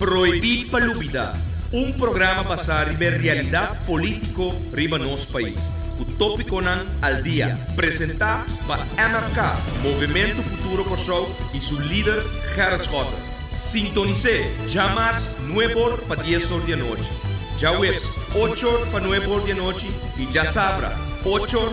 Prohibí pa lubidá, un programa basá riba e realidat polítiko riba nos pais, ku tópikonan al dia, presentá pa MFK, Movementu Futuro Kòrsou, i su lider Gerrit Schotten. Sintonis'é djamas nuebe or pa dies or di anochi, djaweps ocho or pa nuebe or di anochi i djasabra ocho or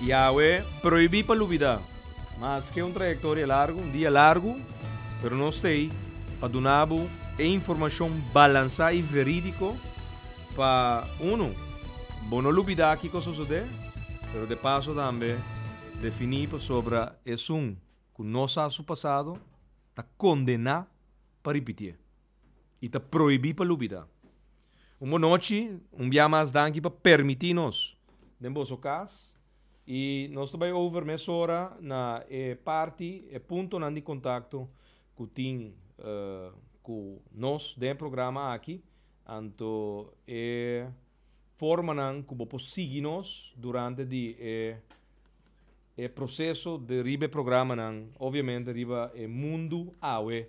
Yahwe prohibí pa lubidá. Maske un trayektoria largu, un dia largu, pero nos ta ei pa duna bo e informashon balansá i verídiko pa, unu, bo no lubidá kiko sosodé, pero de paso tambe definí pasobra esun ku no sa su pasado ta kondená pa ripitié. i ta prohibí pa lubidá. Un bon nochi, un bia mas danki pa permití nos den boso kas i nos ta bai over mesora na e parti, e puntonan di kontakto ku tin ku nos den e programa aki, anto e formanan ku bo por sigui nos durante di e e proseso di riba e programanan, obviamente riba e mundu awe.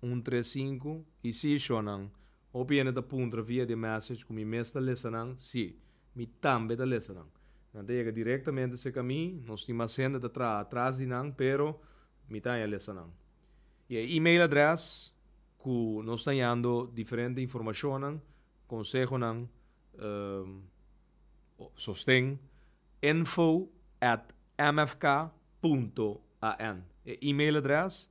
un tres sinku y si sho nan. Hopi hende ta puntra via di e message cu mi mes ta lesa nan, si, mi tambe ta lesa nan. Nan ta yega directamente seca mi, nos tin mas hende ta traha atras di nan pero mi ta haña lesa nan. Y e email adres cu nos ta hañando diferente informacionnan, consehonan, sosten, info at mfk punto an. E email adres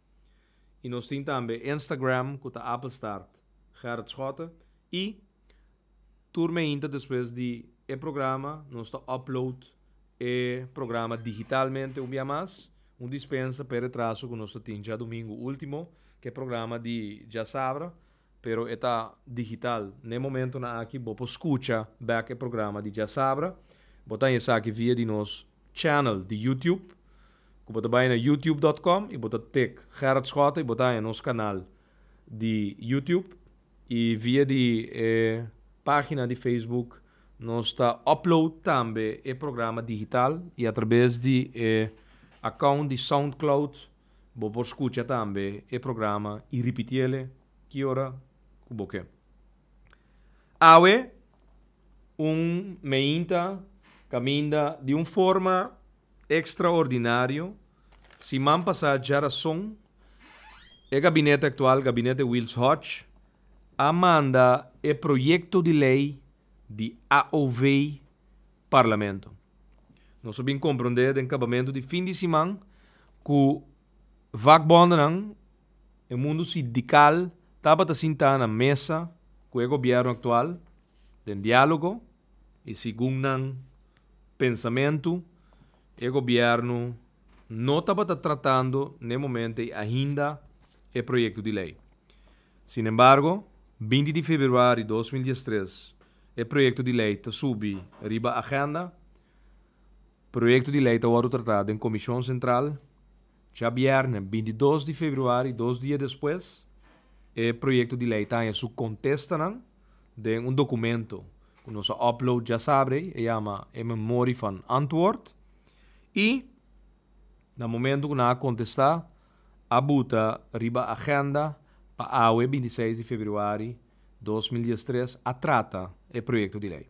I nos tin tambe Instagram cu ta Appelstaart Gerrit Schotte i tur mehinta despues di e programa nos ta upload e programa digitalmente un bia mas, un dispensa p'e retraso cu nos ta tin djadomingo ultimo cu e programa di djasabra pero e ta digital. N'e momentonan aki bo por scucha bek e programa di Djasabra. Bo ta haña esaki via di nos channel di YouTube, cu bo ta bay na youtube.com y bo ta tik Gerrit Schotten y bo ta haña nos canal di YouTube. Y via di e pagina di Facebook nos ta upload tambe e programa digital y a traves di e account di Soundcloud Bo por scucha tambe e programa y ripiti ele ki ora cu bo ke. Awe un meinta caminda di un forma extraordinario. Siman pasa dja rason e gabinete actual, Gabinete Wils Hodge, a manda e proyecto di ley di AOV Parlamento. Nos a bin komprondé den kabamentu di fin di siman ku vakbòndenan, e mundu sindikal, tabata sintá na mesa ku e gobièrnu aktual den diálogo i segun nan pensamentu e gobièrnu no tabata tratando n'e momento ei ainda e proyekto di lei. Sinembargo, binti di februari dos mil dies tres E proyekto di lei ta subi riba agenda. Proyekto di lei ta wòrdu tratá den Komishon Sentral djabièrnè binti dos di februari, dos dia despues. E proyekto di lei ta haña su kontestanan den un dokumento ku nos a upload djasabri, e yama E Memorie van Antwoord. I na momento ku nan a kontestá, a buta riba agenda pa awe binti seis di februari dos mil dies tres a trata e proyekto di lei.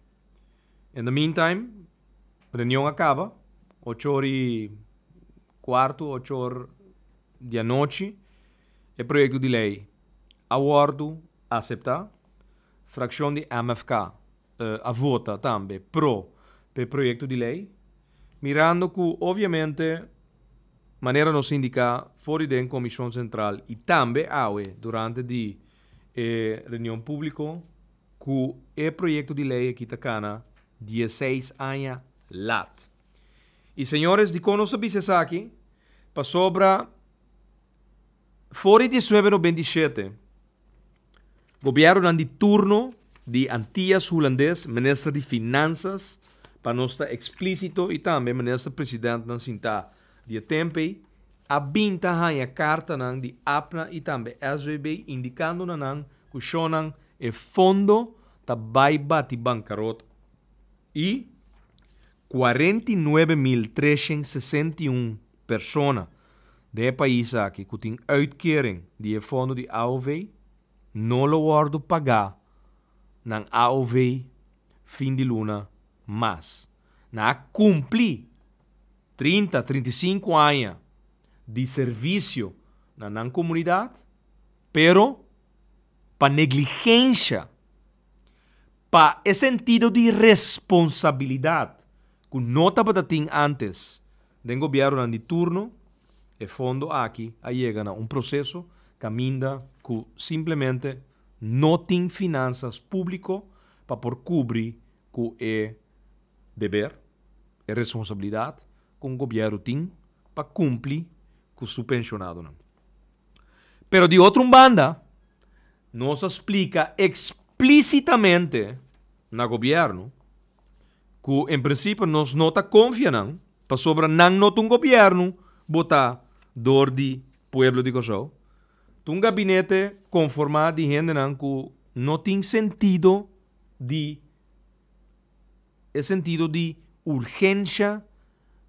In the meantime reunion a kaba ochor i kuartu ochor di anochi e proyekto di lei a wòrdu aseptá frakshon di MFK. a vota tambe pro pa e proyekto di lei, mirando ku obviamente manera nos a indiká for di den Komishon Sentral i tambe awe durante di e reunion públiko ku e proyekto di lei aki ta kana dieseis aña lat. I señores dikon nos ta bisa esaki? Pasobra For di diecinuebe noventa i shete, gobièrnunan di turno di Antias Hulandes, minister di Finansas, pa nos ta eksplísito, i tambe minister presidèntnan sintá di e tempu ei, a bin ta haña kartanan di APNA i tambe SVB indikando na nan ku shònan e fondo ta bai bati bankarot i Cuarenta i nuebe mil treshen sesenta i un persona den e pais aki cu tin uitkering di e fondo di AOV no lo wordo pagá nan AOV fin di luna mas nan a cumpli trinta, trinta i sinku aña di servicio na nan comunidad pero pa negligensha, pa e sentido di responsabilidad cu no tabata tin antes den gobiernonan di turno, e fondo aki a yega na un proceso caminda cu simplemente no tin finanzas publico pa por cubri cu e deber, e responsabilidad cu un gobierno tin pa cumpli cu su pensionadonan. Pero di otro un banda, nos a splica explicitamente na gobierno cu en principio nos no ta confia nan pasobra nan no ta un gobierno bota door di pueblo di Kòrsou. Ta un gabinete conforma di hendenan cu no tin sentido di E sentido di urgensha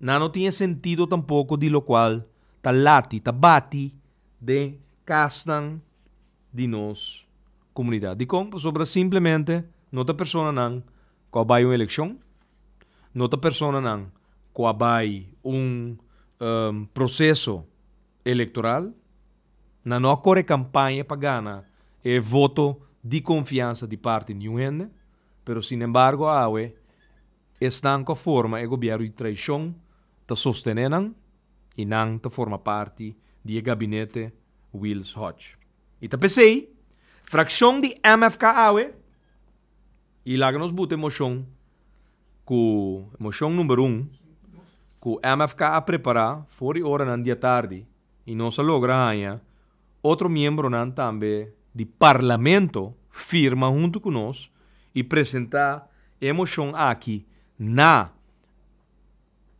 nan no tin e sentido tampoko di lokual ta lati, ta bati den kasnan di nos komunidat. Dikon? Pasobra simplemente no ta personanan ku a bai un elekshon, no ta personanan ku a bai un proseso elektoral, nan no a kore kampaña pa gana e voto di konfiansa di parti niun hende. Pero sin embargo awe esnan cu a forma e gobierno di traicion ta sostene nan y nan ta forma parti di e gabinete Wils Hodge. Y ta pesey fraccion di mfk awe y laga nos buta e mocion cu mocion number un cu mfk a prepara for di ora nan diatardi y nos a logra haña Otro miembronan tambe di Parlamento firma huntu ku nos i presentá e moshon aki na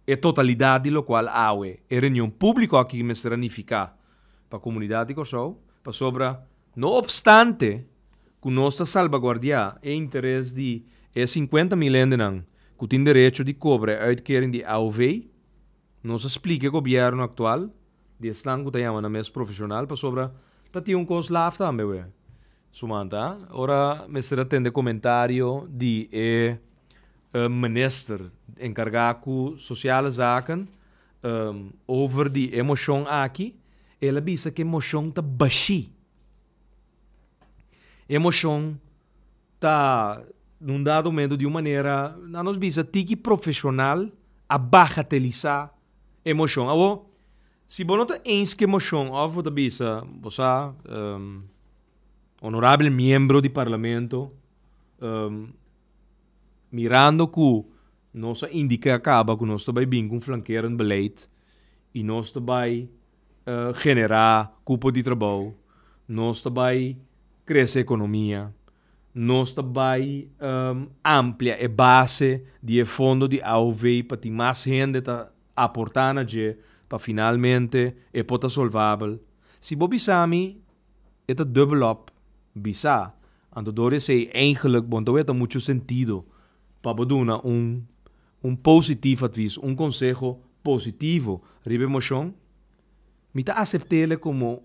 e totalidat di lokual awe e reunion públiko aki mester a nifiká pa komunidat di Kòrsou pasobra no opstante ku nos ta salbaguardiá e interes di e sinkuenta mil hendenan ku tin derecho di kobra e uitkering di AOV, Nos a splika e gobièrnu aktual di esnan ku ta yama nan mes profeshonal pasobra ta tin un kos laf tambe awe. Sumanta ora mester a tende komentario di e minister enkargá ku sosiale zaken over di e moshon aki, el a bisa ku e moshon ta bashí. E moshon. ta un dado momento di un manera nan nos bisa tiki profesional a bagatelisa e moshon. Awo, si bo no ta eense ku e moshon of bo ta bisa bo sa honorabel miembro di parlamento mirando ku nos a indica kaba ku nos ta bai bin ku un flankerend beleid i nos ta bai generá kupo di trabou, nos ta bai krese ekonomia, nos ta bai amplia e base di e fondo di AOV pa tin mas hende ta aportá na dje pa finalmente e por ta solvabel. Si bo bisa mi e ta dubbel op, bisa, anto dor esei, eigenlik bo no ta wet ta muchu sentido pa bo duna un Un positif advis, un konseho positivo riba e moshon, mi ta asept'e komo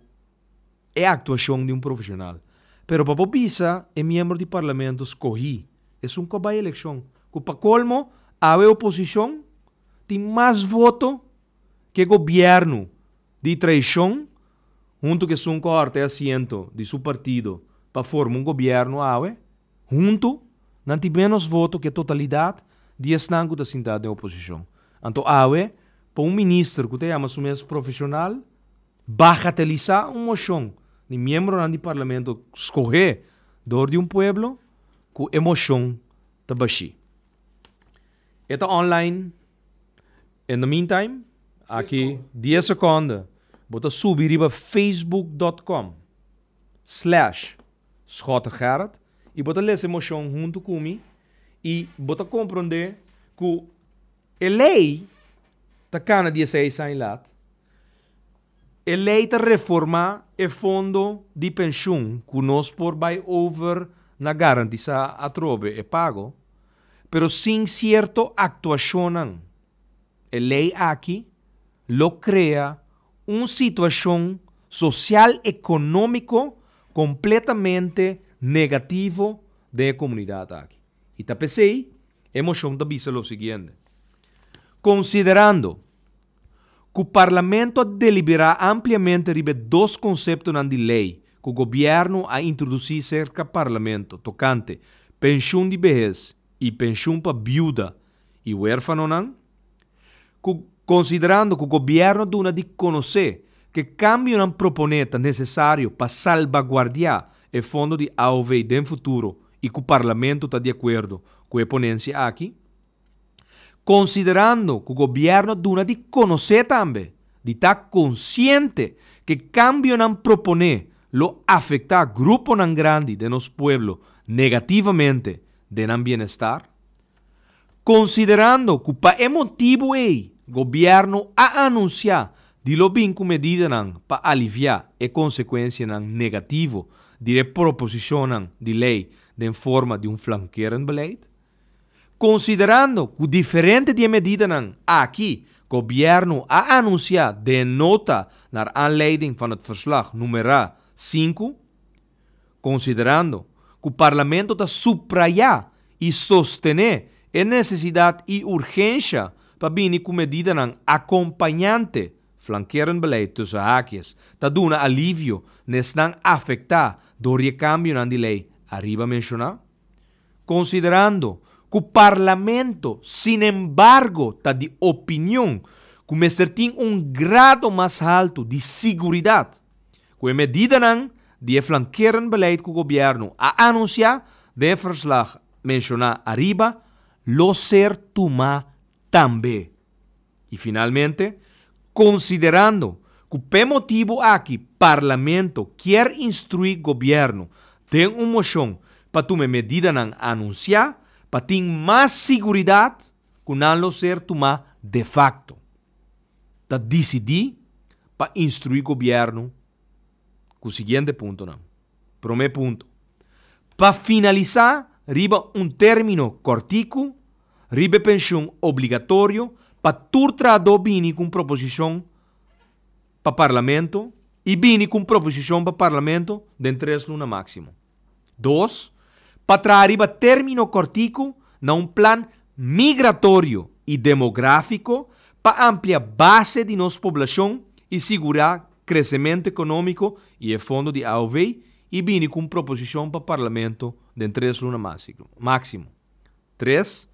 e aktuashon di un profeshonal. Pero pa bo bisa e miembro di parlamento skohí esun ku a bai elekshon, ku pa kolmo awe e oposishon tin mas voto ku e gobièrnu di traishon huntu ku esun ku a hòrta e asiento di su partido pa forma un gobièrnu awe, Huntu, nan tin ménos voto ke totalidat di esnan ku ta sintá den oposishon. Anto awe, pa un minister ku ta yama su mes profeshonal bagatelisá un moshon di miembronan di parlamento skohé dor di un pueblo, ku e moshon ta bashí. E ta online. In the meantime, aki dies sekonde bo ta subi riba facebook dot com. Slash, Schotten Gerrit, y bo ta lesa e moshon hunto cu mi y bo ta compronde cu e ley ta cana dieseis aña laat. E ley ta reforma e fondo di pensioen cu nos por bay over na garantisa atrobe e pago, pero sin cierto actuacionnan e ley aki lo crea un situacion social economico completamente negativo den e comunidad aki. Y ta pesey e mocion ta bisa lo siguiente, Considerando cu Parlamento a delibera ampliamente riba e dos conceptonan di ley cu Gobierno a introduci cerca Parlamento tocante Pension di Behez y Pension pa Biuda y Huerfanonan, ku konsiderando ku gobièrnu a duna di konosé ku e kambionan proponé ta nesesario pa salbaguardiá e fondo di AOV den futuro i ku Parlamento ta di akuerdo ku e ponensia aki. Konsiderando ku gobièrnu a duna di konosé tambe di ta konsiente ku e kambionan proponé lo afektá gruponan grandi den nos pueblo negativamente den nan bienestar, Konsiderando ku pa e motibu ei gobièrnu a anunsiá di lo bin ku medidanan pa aliviá e konsekuensianan negativo di e proposishonnan di lei den forma di un flankerend beleid. Konsiderando ku diferente di e medidanan aki gobièrnu a anunsiá den e nota naar aanleiding van het verslag numerá sinku, konsiderando ku Parlamento ta suprayá i sostené e nesesidat i urgensha pa bini ku medidanan akompañante, flankerend beleid tussen haakjes, ta duna alivio na esnan afektá dor di e kambionan di lei ariba menshoná. Konsiderando ku Parlamento sinembargo ta di opinion ku mester tin un grado mas haltu di siguridat, Ku e medidanan di e flankerend beleid ku gobièrnu a anunsiá den e ferslag menshoná ariba lo ser tumá tambe. I finalmente, konsiderando ku p'e motibu aki Parlamento kier instruí gobièrnu den un moshon pa tuma e medidanan anunsiá pa tin mas siguridat ku nan lo ser tumá de fakto. ta disidí pa instruí gobièrnu ku siguiente puntonan. Promé punto, pa finalisá riba un término kòrtiku riba e penshun obligatorio pa tur trahadó bini ku un proposishon pa parlamento i bini ku un proposishon pa parlamento den tres luna máksimo. Dos, pa traha riba término kòrtiku na un plan migratorio i demográfiko pa amplia base di nos poblashon i sigurá kresementu ekonómiko i e fondo di AOV i bini ku un proposishon pa parlamento den tres luna máksimo. Tres,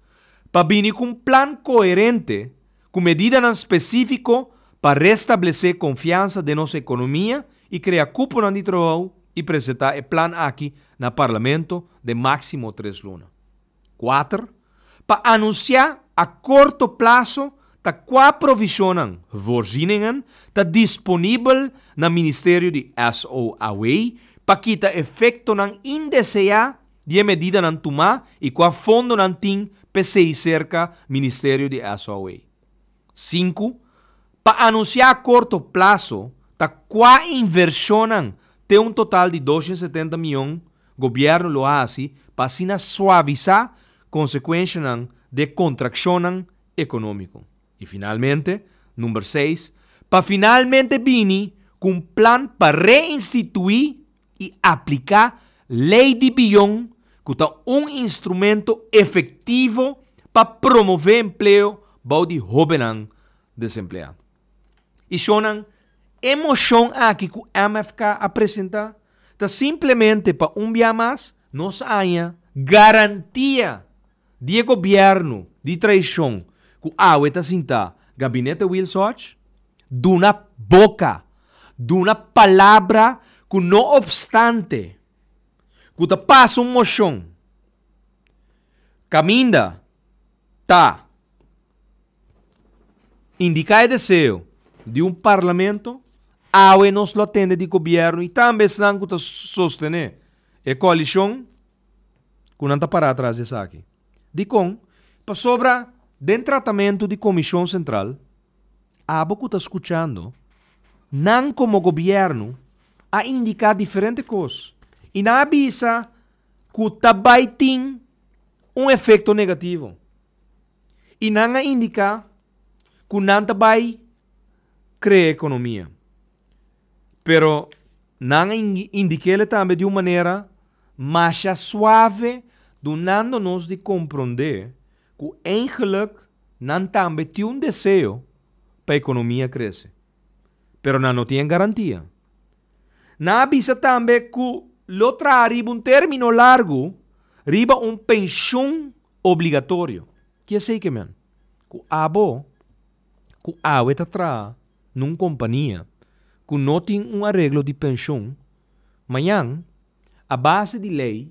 pa bini ku un plan koherente ku medidanan spesífiko pa restablesé konfiansa den nos ekonomia i krea kuponan di trabou i presentá e plan aki na Parlamento den máksimo tres luna. Kuater, pa anunsiá a korto plaso ta kua provishonnan, voorzieningen, ta disponibel na Ministerio di SOAW pa kita efektonan indeseá di e medidanan tumá i kua fondo nan tin p'esei serka Ministerio di SOA. Sinku, pa anunsiá a korto plaso ta kua invershonnan te un total di doshen setenta mion Gobièrnu lo hasi pa asina suavisá konsekuenshanan di e kontrakshonnan ekonómiko. I finalmente, number seis, pa finalmente bini ku un plan pa reinstituí i apliká Lei di Bion ku ta un instrumento efektivo pa promové empleo bou di hóbennan desempleá. I shonnan, e moshon aki ku MFK a presentá ta simplemente pa un bia mas nos haña garantia di e gobièrnu di traishon ku awe ta sintá Gabinete Wiel Soch, duna boka, duna palabra ku no opstante ku ta pasa un moshon kaminda ta indiká e deseo di un parlamento, awe nos lo a tende di gobièrnu i tambe esnan ku ta sostené e koalishon, ku nan ta pará atras di esaki. Dikon? Pasobra den tratamentu di komishon sentral, abo ku ta skuchando, nan komo gobièrnu a indiká diferente kos i nan a bisa ku ta bai tin un efekto negativo. I nan a indiká ku nan ta bai krea ekonomia. Pero nan a indikéle tambe di un manera masha suave, dunando nos di komprondé ku eingelik nan tambe tin un deseo pa ekonomia krese, pero nan no tin e garantia. Nan a bisa tambe ku lo traha riba un término largu riba un penshon obligatorio. Kiesei ke men? Ku abo ku awe ta traha. na un kompania ku no tin un areglo di penshon, mañan, a base di lei,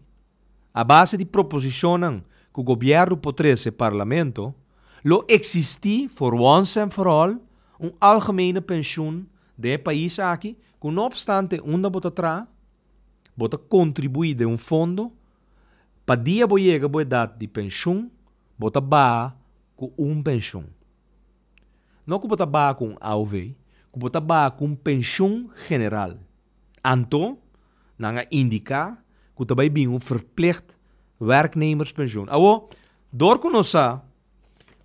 a base di proposishonnan ku gobièrnu por trese Parlamento, lo eksistí for once and for all un algemene penshon den e pais aki ku no opstante unda bo ta traha, bo ta kontribuí den un fondo, pa dia bo yega bo edat di penshon, bo ta baha ku un penshon. No ku bo ta baha ku un AOV, ku bo ta baha ku un penshun general. Anto, nan a indiká ku ta bai bin un verplicht werknemerspensioen. Awor, dor ku nos sa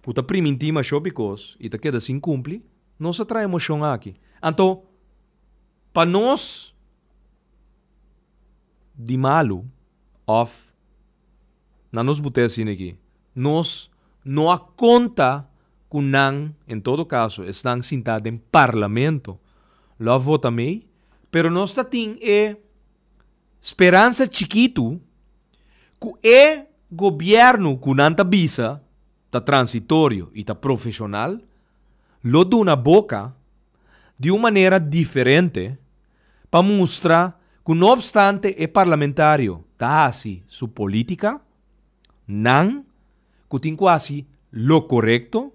ku ta primintí mashó bikos i ta keda sin kumpli, nos a traha e moshon aki. Anto, pa nos di malu òf na nos but'é asina aki, Nos no a conta cu nan, en todo caso esnan sinta den Parlamento, lo a vota mey, pero nos ta tin e speransa chikitu cu e Gobierno cu nan ta bisa ta transitorio y ta profesional lo duna boca di un manera diferente pa mustra cu no obstante e parlamentario ta haci su politica, nan ku tin ku hasi lo korekto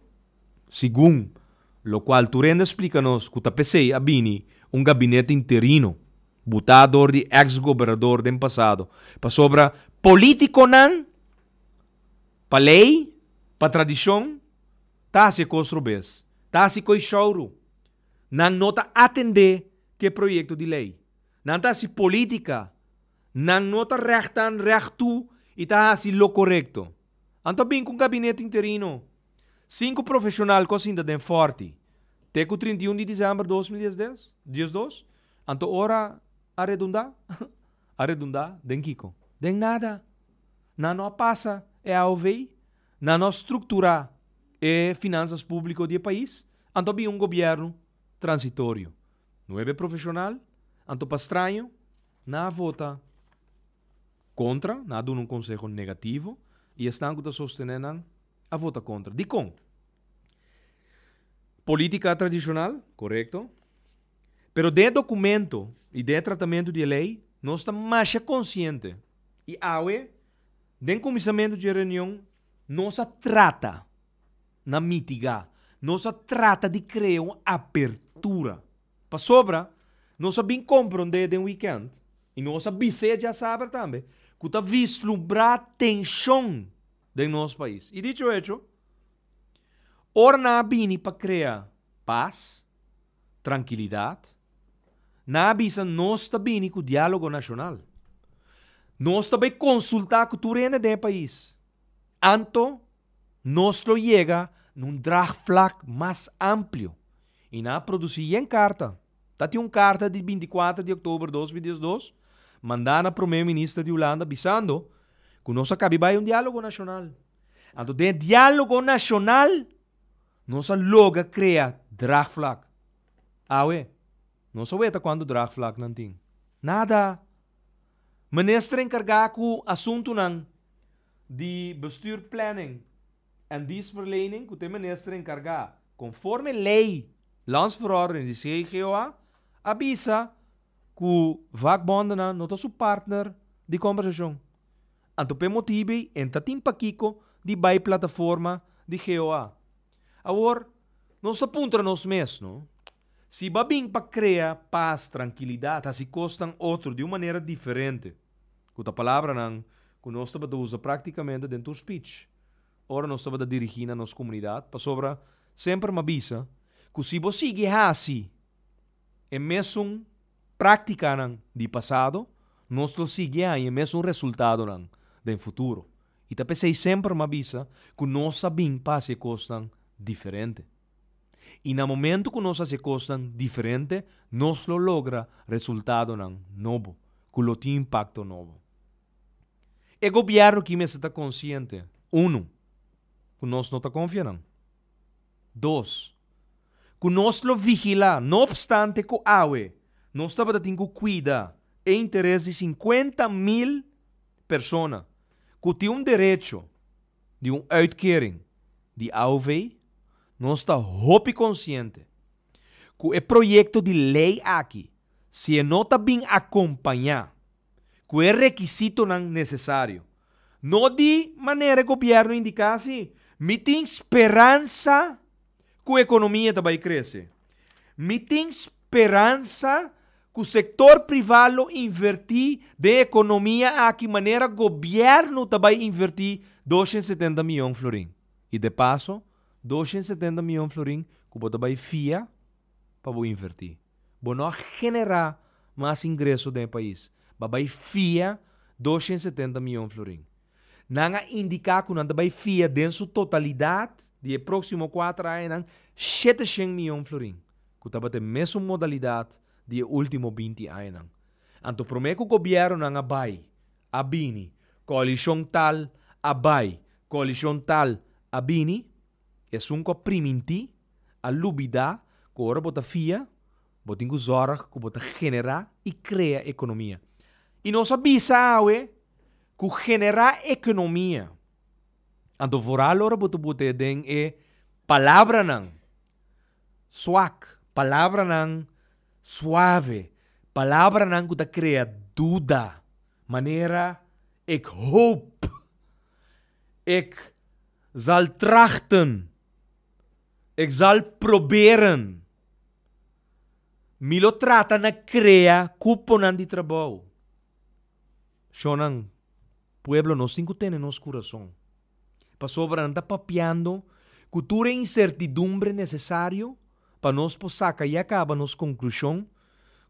segun lokual Turenda splika nos ku ta p'esei a bini un gabinete interino butá dor di eks gobernador den pasado pasobra polítikonan pa lei, pa tradishon ta hasi e kos robes, ta hasi koe showru, nan no ta atendé ku e proyekto di lei, nan ta hasi polítika Nan no ta rèktan rèk tu i ta hasi lo korekto. Anto bin ku un gabinet interino. Sinku profeshonal ku a sinta den fòrti te ku trinta i un di desèmber dos mil diesdos. Anto ora a redundá? A redundá den kiko? Den nada. Nan no a pasa e AOV. Nan no a strukturá e finansas públiko di e pais. Anto a bin un gobièrnu transitorio. Nuebe profeshonal? Anto pa straño? Nan a vota kontra, nan a duna un konseho negativo i esnan ku ta sostené nan a vota kontra. Dikon? Polítika tradishonal, korekto. Pero den e dokumento i den e tratamentu di e lei nos ta masha konsiente i awe den kuminsamentu dje reunion nos a trata na mitigá, nos a trata di krea un apertura. Pasobra nos a bin komprondé den wikènt, i nos a bis'é djasaber tambe, ku ta vislumbrá tenshon den nos pais. I dicho hecho, ora nan a bini pa krea pas, trankilidat, nan a bisa nos ta bini ku diálogo nashonal. Nos ta bai konsultá ku tur hende den e pais, anto nos lo yega na un dragvlak mas amplio. I na produsí yen karta. Ta tin un karta di binti kuater di oktober dos mil diesdos mandá na Promé Minister di Hulanda bisando ku nos a kabi bai un diálogo nashonal. Anto den e diálogo nashonal nos a logra krea draagvlak. Awe, nos a weta kuantu draagvlaknan tin. Nada! Minister enkargá ku asuntunan di bestuur, planning. en diensverlening ku te minister enkargá. Konforme lei, Lands Verordening di CGOA a bisa ku vakbondennan no ta su partner di kòmbersashon. Anto p'e motibu ei e ta tin pakiko di bai plataforma di GOA. Awor, nos ta puntra nos mes no, si ba bin pa krea pas, trankilidat, hasi kosnan otro di un manera diferente. Ku ta palabranan ku nos tabata usa práktikamente den tur spich ora nos tabata dirigí na nos komunidat. Pasobra semper m'ha bisa ku si bo sigui hasi e mesun práktikanan di pasado, nos lo sigui haña e mesun resultadonan den futuro. I ta p'esei semper m'ha bisa ku nos a bin pa hasi e kosnan diferente. I na momentu ku nos hasi kosnan diferente, nos lo logra resultadonan nobo ku lo tin impakto nobo. E gobièrnu aki mester ta konsiente, unu, ku nos no ta konfia nan. Dos, ku nos lo vigilá, no opstante ku awe nos tabata tin ku kuida e interes di sinkuenta mil persona ku tin un derecho, di un uitkering di AOV, nos ta hopi konsiente ku e proyekto di lei aki si e no ta bin akompañá ku e rekisitonan nesesario no di manera e gobièrnu indiká si, mi tin speransa ku ekonomia ta bai krese. Mi tin. speransa ku sektor privá lo invertí den ekonomia aki manera gobièrnu ta bai invertí dos hende setenta mion florin. I de paso, dos hende setenta mion florin ku bo ta bai fia pa bo invertí, bo no a generá mas ingreso den e pais, bo a bai fia dos hende setenta mion florin. Nan a indiká ku nan ta bai fia den su totalidat di e próksimo kuater añanan shete shen mion florin. ku tabata e mesun modalidat di e último binti añanan. Anto promé ku gobièrnunan a bai, a bini, koalishon tal a bai, koalishon tal a bini, esun ku a primintí a lubidá ku ora bo ta fia, bo tin ku zòrg ku bo ta generá i krea ekonomia. I nos a bisa awe ku generá ekonomia. Anto vooral ora bo ta butea den e palabranan. Suak, palabranan suave, palabranan ku ta krea duda, manera ik hoop, ik zal trachten, ik zal proberen, mi lo trata na krea kuponan di trabou. Shonnan, pueblo nos tin ku tene nos kurason. pasobra nan ta papiando ku tur e insertidumbre nesesario pa nos por saka ya kaba nos konklushon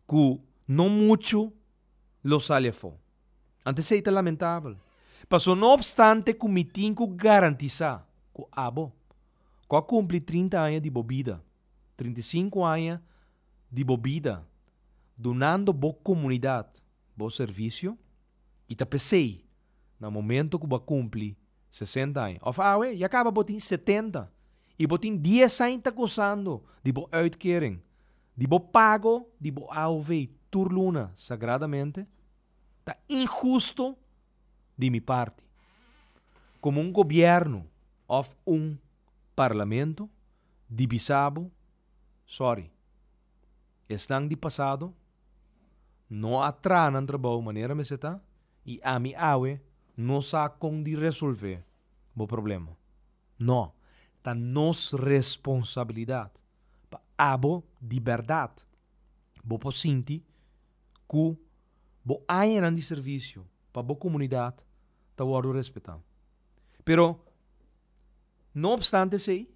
ku no muchu lo sali afó. Anto esei ta lamentabel. Paso no opstante ku mi tin ku garantisá ku abo ku a kumpli trinta aña di bo bida, trinta i sinku aña di bo bida dunando bo komunidat bo servisio, i ta p'esei Na momento cu bo a cumpli sesenta aña, of awe ya caba bo tin setenta y bo tin dies aña ta gozando di bo uitkering, di bo pago di bo AOV tur luna sagradamente, ta ingusto di mi parti como un gobierno of un Parlamento di bisa bo sorry, esnan di pasado no a traha nan trabou manera mester ta. I ami awe no sa kon di resolvé bo problema. No, ta nos responsabilidat pa abo di bèrdat. Bo por sinti ku bo añanan di servisio pa bo komunidat ta wòrdu respetá. Pero, no opstante esei.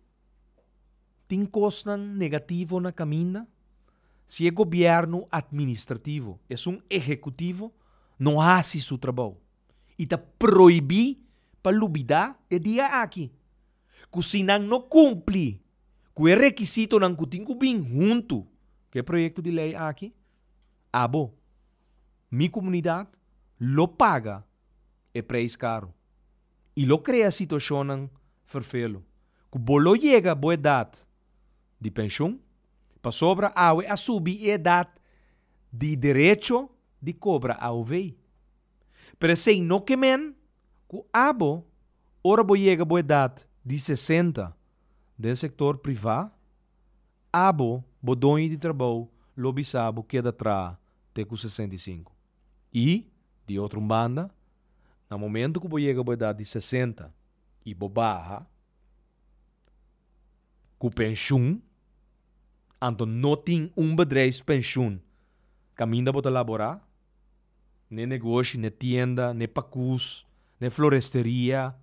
tin kosnan negativo na kaminda? Si e gobièrnu atministrativo, esun ehekutivo, no hasi su trabou i ta proibí pa lubidá e dia aki ku si nan no kumpli ku e rekisitonan ku tin ku bin huntu ku e proyekto di lei aki, abo, mi komunidat, lo paga e preis karu. i lo krea situashonnan ferfelu ku bo lo yega bo edat di penshun pasobra awe a subi e edat di derecho di kobra AOV. Pero esei no ke men ku abo ora bo yega bo edat di sesenta den sektor privá abo bo doño di trabou lo bisa bo keda traha te ku sesenta i sinku i, di otro un banda, Na momento cu bo yega bo edad di sesenta y bo baha cu pensioen, anto no tin un bedrijfspensioen caminda bo ta labora, n'e negoshi, n'e tienda, n'e pacus, n'e floresteria,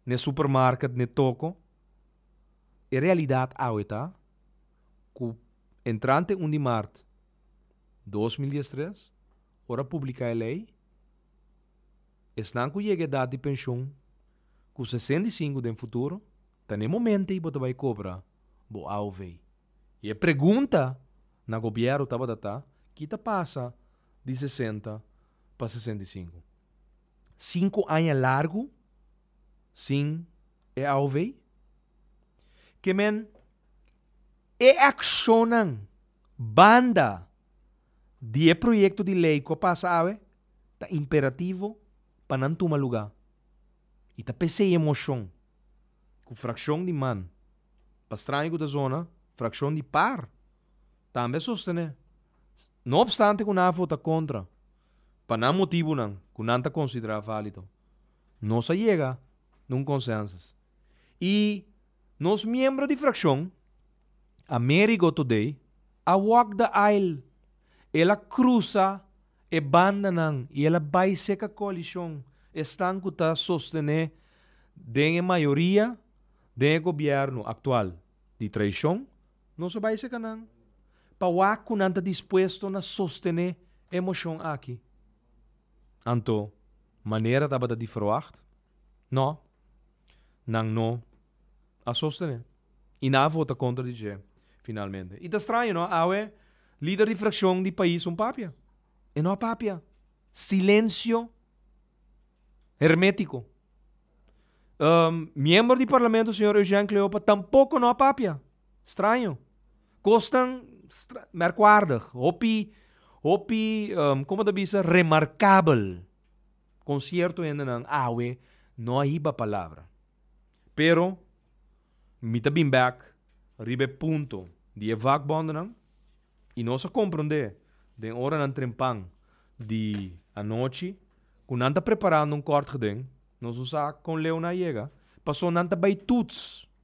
n'e supermarket, n'e toco. E realidad awe ta cu entrante un di mart dos mil diestres, Ora publica e ley, esnan cu yega edad di pension cu sesenta i sinku den futuro ta n'e momento ey bo ta bay cobra bo AOV. Y e pregunta na Gobierno tabata ta, ki ta pasa di sesenta pa sesenta i sinku? Sinku aña largu sin e AOV? Ke men e accionnan banda. di e proyekto di lei ku a pasa awe ta imperativo pa nan tuma lugá i ta p'esei e moshon ku frakshon di man, Pastraña ku ta zona frakshon di par, tambe a sostené. No opstante ku nan a vota kontra pa nan motibunan ku nan ta konsiderá válido, nos a yega na un konsènsus i Nos miembro di frakshon, Amerigo today a walk the aisle, el a krusa e bandanan i el a bai seka koalishon, esnan ku ta sostené den e mayoria den e gobièrnu aktual di traishon, nos a bai seka nan pa wak ku nan ta dispuesto na sostené e moshon aki. Anto, manera tabata di ferwagt. No, nan no a sostené i nan a vota kontra di dje finalmente. I ta straño no, awe lider di frakshon di pais un papia. E no a papia. Silensio hermetiko. Miembro di parlamento señor Eugène Cleopa tampoko no a papia. Straño. Kosnan merkwaardig. Hopi, hopi, komo ta bisa, remarkabel. Con cierto hendenan awe no a hiba palabra. Pero mi ta bin bek riba e punto di e vakbondennan y nos a comprende den oranan trempan di anochi cu nan ta preparando un kort geden, nos a sa con leeunan a yega, paso nan ta bay toets.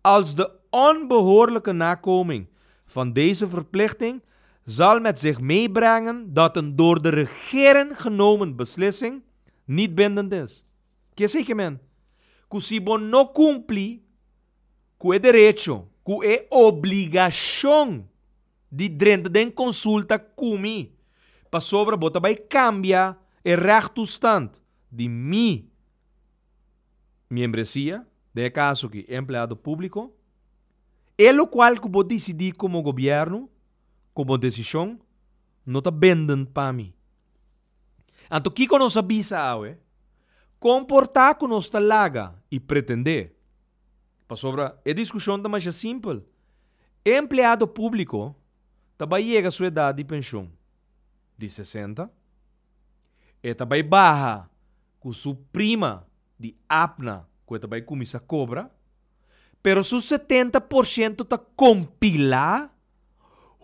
Als de onbehoorlijke nakoming van deze verplichting zal met zich meebrengen dat een door de regering genomen beslissing niet bindend is, kie sey ke men ku si bo no kumpli ku e derecho, ku e obligashon di drenta den konsulta ku mi pasobra bo ta bai kambia e rechtoestand di mi, Miembresia, den e kaso aki, e empleado públiko, e lokual ku bo disidí komo gobièrnu, ku bo desishon, no ta benden pa mi. Anto kiko nos a bisa awe? Kon por ta ku nos ta laga i pretendé? Pasobra e diskushon ta masha simpel. E empleado públiko ta bai yega su edat di penshon di sesenta, e ta bai baha cu su prima di Abna cu e ta bay cuminsa cobra, pero su setenta por ciento ta compila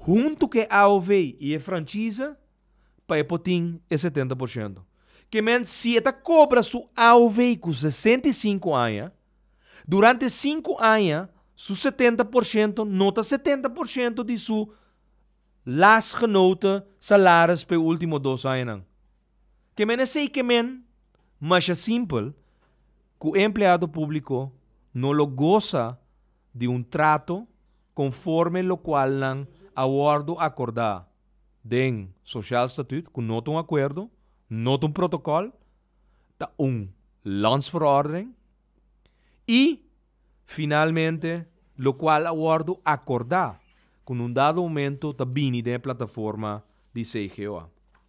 hunto cu e AOV y e franchise pa e por tin e setenta por ciento. Ke men si e ta cobra su AOV cu sesenta y cinco aña, durante cinco aña su setenta por ciento no ta setenta por ciento di su lastgenoten salaris pa e ultimo dos añanan. Ke men esei ke men masha simpel ku e empleado públiko no lo gosa di un trato konforme lokual nan a wòrdu akordá den sosial statüt ku no ta un akuerdo, no ta un protokòl, ta un landsverordening, i finalmente lokual a wòrdu akordá ku na un dado momento ta bini den e plataforma di CGO a.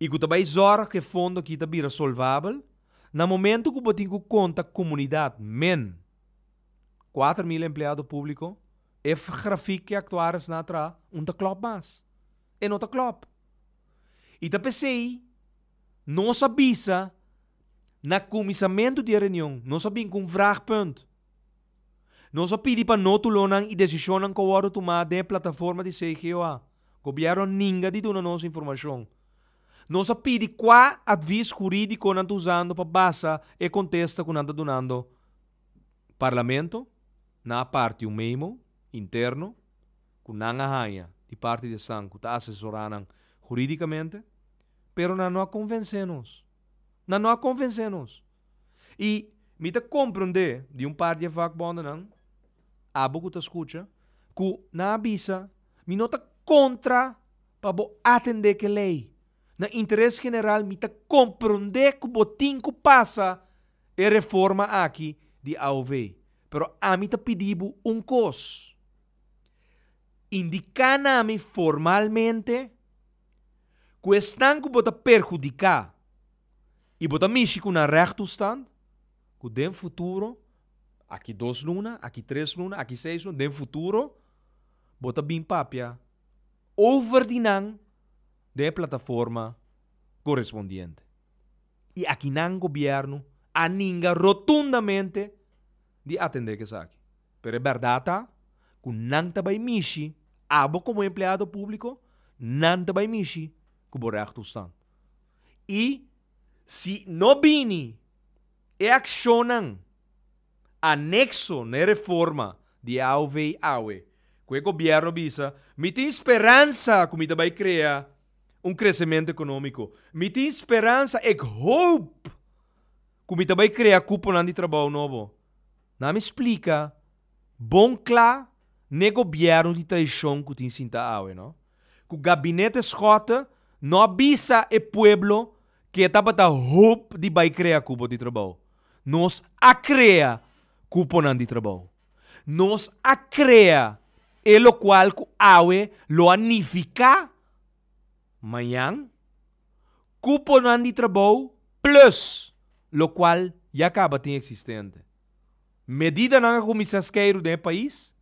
i ku ta bai zòrg ku e fondo aki ta bira solvabel na momentu ku bo tin ku konta komunidat men kuater mil empleado públiko, e grafik ku e aktuaris nan a traha un ta klòp mas e no ta klòp i ta p'esei nos a bisa na kuminsamentu di e reunion nos a bin ku un vragpunt. Nos a pidi pa nótulonan i desishonnan ku a wòrdu tumá den e plataforma di CGOA, Gobièrnu a ninga di duna nos informashon. Nos a pidi kua atvis hurídiko nan ta usando pa basa e kontesta ku nan ta dunando Parlamento na a parti un memo interno ku nan a haña di parti di esnan ku ta asesorá nan hurídikamente, pero nan no a konvensé nos. Nan no a konvensé nos. I mi ta komprendé di un par di e vakbondennan, abo ku ta skucha, ku nan a bisa, mi no ta kontra pa bo atendé ku e lei. Na interes general mi ta komprendé ku bo tin ku pasa e reforma aki di AOV. Pero ami ta pidi bo un kos, indiká na mi formalmente ku esnan ku bo ta perhudiká, I bo ta mishi ku na règ tustand, ku den futuro, aki dos luna, aki tres luna, aki seis luna, den futuro, bo ta bin papia over di nan den e plataforma korespondiente. I aki nan gobièrnu a ninga rotundamente di atendé ku esaki. Pero e bèrdat ta ku nan ta bai mishi, abo komo empleado públiko, nan ta bai mishi ku bo règ tustand. i si no bini e akshonnan anekso na e reforma di e aw vei awe ku e gobièrnu bisa, mi tin speransa ku mi ta bai krea un kresementu ekonómiko. Mi tin speransa, ek hoop, ku mi ta bai krea kuponan di trabou nobo, na mi splika. Bon kla n'e gobièrnu di traishon ku tin sinta awe no, ku gabinete Schotte no a bisa e pueblo ke e tabata hoop di bai krea kupo di trabou. Nos a krea kuponan di trabou. Nos a krea e lokual ku awe lo a nifiká mañan kuponan di trabou plus lokual ya kaba tin eksistente. Medidanan a kuminsá skeiru den e pais.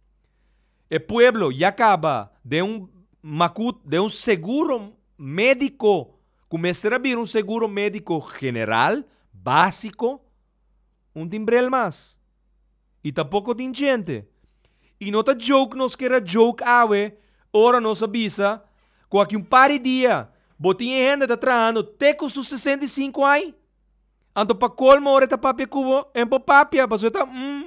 E pueblo ya kaba den un makut, den un seguro médiko ku mester a bira un seguro médiko general, básiko. Un timbrel mas. I ta poko tin djente. I no ta joke nos keda joke awe ora nos a bisa ku aki un par di dia bo tin e hende ta trahando te ku su sesenta i sinku ai. Anto pa colmo ora e ta papia cu bo e no por papia pasobra e ta mm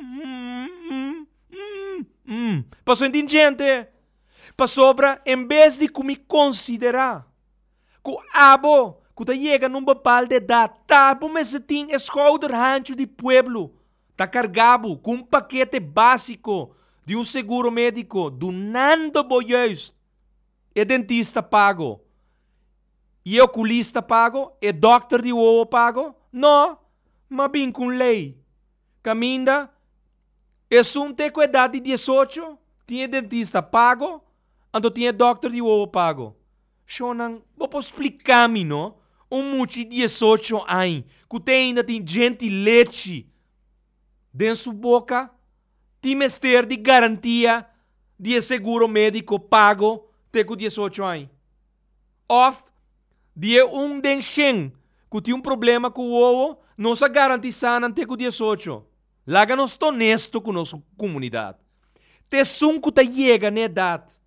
mm mm pasobra e tin djente pasobra en bes di cu mi considera cu abo cu ta yega na un bepalde edad ta bo mester tin e schouder hancho di pueblo ta carga bo cu un paquete basico di un seguro medico dunando bo juist e dentista pago. E okulista pago? E dòkter di wowo pago? No! M'a bin ku un lei. Kaminda esun t'e ku edat di diesocho tin e dentista pago, anto tin e dòkter di wowo pago. Shonnan, bo por splika mi no? Un muchi diesocho aña ku te ainda tin djenti lechi den su boka tin mester di garantia di e seguro médiko pago te ku diesocho aña? òf di e un den shen ku tin un problema ku wowo, nos a garantisá nan te ku diesocho. Laga nos ta onesto ku nos komunidat. Te esun ku ta yega na edat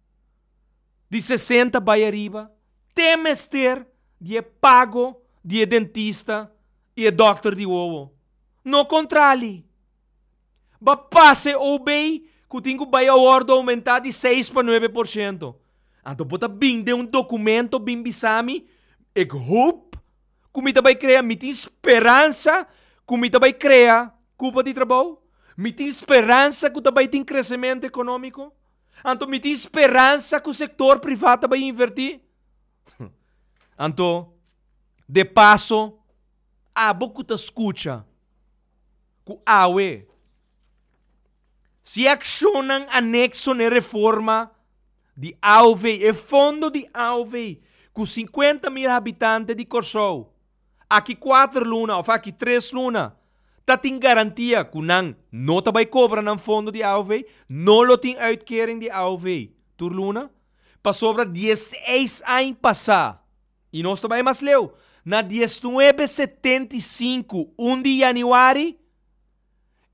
di sesenta bai ariba, te mester di e pago di e dentista i e dòkter di wowo. No kontrali! Ba pase obey ku tin ku bai a wòrdu oumentá di seis pa nuebe por siento. Anto bo ta bin den un dokumento bin bisa mi, Ek hoop ku mi ta bai krea, mi tin speransa ku mi ta bai krea kupa di trabou, mi tin speransa ku ta bai tin kresementu ekonómiko, anto mi tin speransa ku sektor privat ta bai invertí. Anto de paso. Abo ku ta skucha, ku awe si e akshonnan anekso na e reforma di aowei, e fondo di aowei ku singkuenta mil habitante di Kòrsou aki kuater luna òf aki tres luna ta tin garantia ku nan no ta bai kobra nan fondo di aowei, no lo tin uitkering di aowei tur luna pasobra dieseis aña pasá. I nos ta bai mas leu, na diesnuebe setenta i sinku, un di yanüari,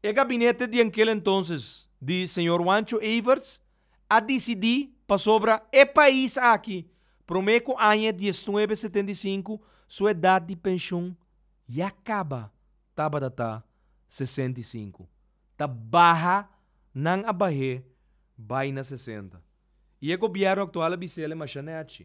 e gabinete di ankel entonses di señor Juancho Everts a disidí pasobra e pais aki promé ku aña diesnuebe setenta i sinku su edat di penshon ya kaba tabata ta sesenta i sinku ta baha nan a bah'é bai na sesenta i e gobièrnu aktual a bis'é el e mashá nèchi.